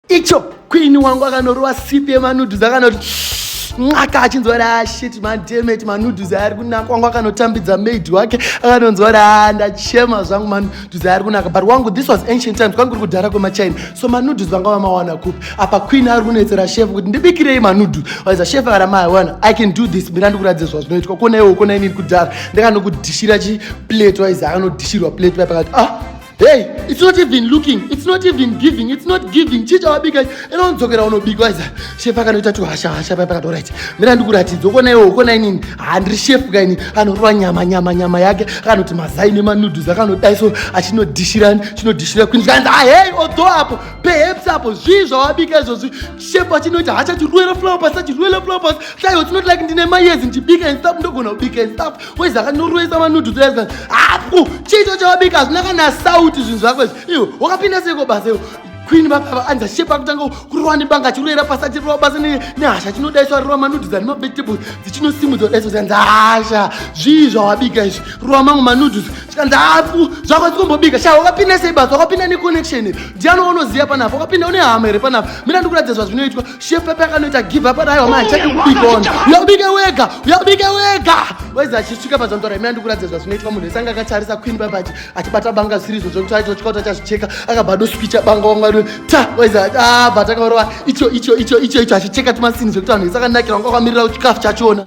icho queen wangu akanorova sipi yemanudhuzi akanoti nxaka achinzwa kuti ashit ah, mademeti manudhuzi aari kunaka wangu akanotambidza maid wake akanonzwa kuti a ah, ndachema zvangu manudhuzi aari kunaka but wangu this was ancient times kwangu kuri kudhara kwemachina so manudhuzi vanga vamawana kupi apa queen ari kunetsera shefu kuti ndibikirei manudhuzi waiza shefu akana mawana i can do this mira ndikuratidze zvazvinoitwa kona iwo kona inini kudhara ndikanokudhishira chiplate waiza akanodhishirwa plate paye pakati ah Hey, it's not even looking, it's not even giving, it's not giving. Chicha wabika, ino unzokera unobika waiza. Chef akanoita tu hasha hasha papa kato right. Mira ndikuratidza ukona iwe ukona inini. Handri chef kaini anorwa nyama nyama nyama yake akanoti mazai nema noodles akanodai so achinodishira chinodishira kwini zvikanzi ah hey odo apo perhaps apo zvii zvawabika izvozvi chef achinoita hacha chirwela flower pasi chirwela flower pasi. Sai it's not like ndine mayezi ndibika and stuff ndogona kubika and stuff. kwezi akanyoroesa manudhu taiaa hapo chiito chawabika hazvina kana sauti zvinhu zvako izvi iwo wakapinda seiko basa iwo queen vakava anza shepa akutanga kurowa nebanga achiroera pasi achirowa basa nehasha chinodaiswa rowa manudhis ari mavegetables dzichinosimudza kudaiswa zikanzi hasha zvii zvawabika izvi rowa mamwe manudhis chikanzi hafu zvako dzikombobika shaa wakapinda sei basa wakapinda neconnection ndiani waunoziva panafa wakapinda une hama here panafa mina ndikuratidza zvazvinoitwa Chef Pepe akanoita give up adai wamai chake kubika ona. Uyabike wega, uyabike wega. Waiza achisvika pazandora imwe andikuratidza zvazvinoitwa munhu wese anga akatarisa Queen Pepe achi achibata banga zviri izvo zvekuti aitwa chikauta chazvicheka akabva doswicha banga wanga ri ta waiza ah but akaorova icho icho icho icho icho achicheka tumasini zvekuti vanhu vese akanakira wanga wakamirira chikafu chachona.